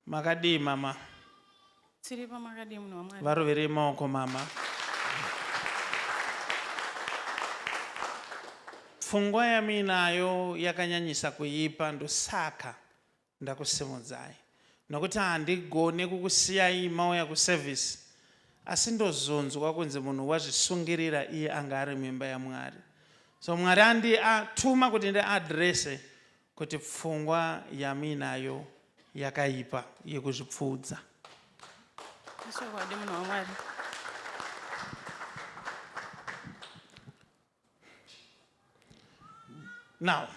Makadii mama? Tiripo makadii munhu waMwari? Varoverei maoko mama. Pfungwa yamuinayo yakanyanyisa kuipa ndosaka ndakusimudzai nokuti handigone kukusiyai mauya kuservice asi ndozonzwa kunzi munhu wazvisungirira iye anga ari mimba yaMwari so Mwari andi atuma kuti ndiadrese Kuti pfungwa yamuinayo yakaipa yekuzvipfuudza. Ichokwadi munhu waMwari. Now,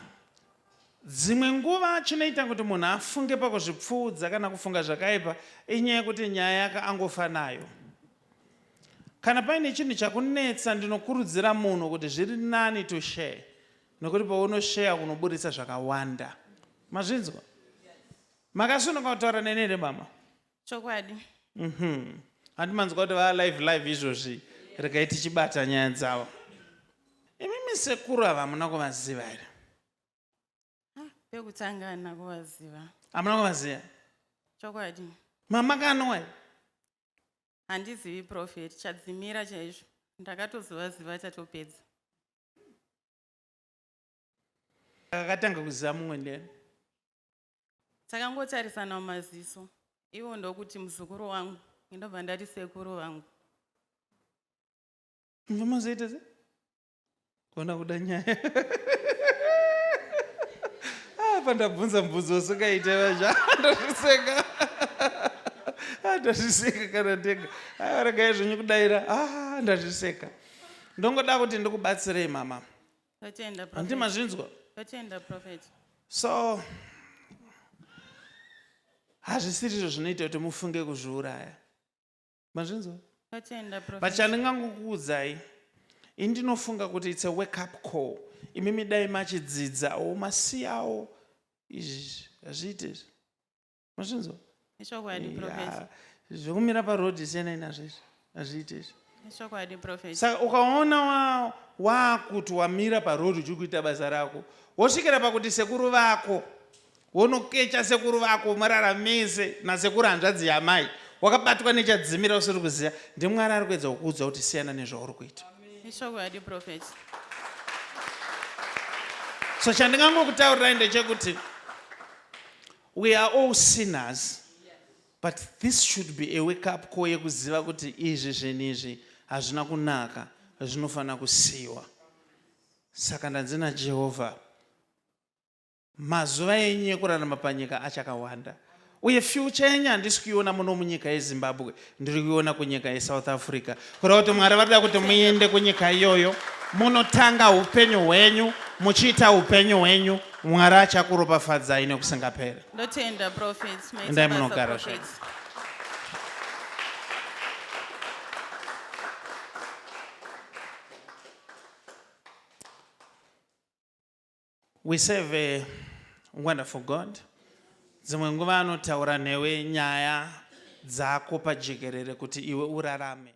dzimwe nguva chinoita kuti munhu afunge pakuzvipfuudza kana kufunga zvakaipa inyaya yekuti nyaya yake angofa nayo. Kana paine chinhu chakunetsa ndinokurudzira munhu kuti zviri nani to share nokuti paunosheya unoburitsa zvakawanda mazvinzwa makasunuka kutaura neni here mama chokwadi mhm. handi manzwa kuti vaa live live izvozvi regai tichibata nyaya dzavo imimi sekuru ava hamuna kuvaziva here pekutanga hana kuvaziva hamuna kuvaziva chokwadi mama kanowai handizivi profeti chadzimira chaizvo ndakatozivaziva chatopedza akatanga kuziva mumwe ndiyani takangotarisana mumaziso ivo ndokuti muzukuru wangu ndobva ndati sekuru vangu mvamazoita se kona kuda nyaya apa ah, ndabvunza mbudzi usingaite vazva ndazviseka ah, ndazviseka kana ndega ah, regai zvenyu kudaira ndazviseka ndongoda kuti ndikubatsirei mama handi mazvinzwa so hazvisirizvo zvinoita kuti mufunge kuzviuraya mazvinzwa but chandingangokuudzai indinofunga kuti its a wake up call imimi dai machidzidzawo masiyawo izvi hazviite izvi mazvinzwa ichokwadi profesa zvekumira paroad siyanai nazvo izvi hazviite izvi ichokwadi profesa saka ukaona wakuti wamira paroad uchiri kuita basa rako wosvikira pakuti sekuru vako wonokecha sekuru vako marara mese nasekuru hanzvadzi yamai wakabatwa nechadzimira usiri kuziva ndimwari ari kuedza kukuudza kuti siyana nezvauri kuita ichokwadi profesa so chandingangokutaurirai ndechekuti We are all sinners but this should be a wake up call yekuziva kuti izvi zvinhu izvi hazvina kunaka zvinofanira kusiyiwa saka ndanzi najehovha mazuva enyu ekurarama panyika achakawanda uye fyucha yenyu handisi kuiona muno munyika yezimbabwe ndiri kuiona kunyika yesouth africa kureva kuti mwari varida kuti muende kunyika iyoyo munotanga upenyu hwenyu muchiita upenyu hwenyu mwari achakuropafadzai nekusingapere ndotenda profits endai munogara zvenyu We serve a wonderful God. Dzimwe nguva anotaura newe nyaya dzako pajekerere kuti iwe urarame.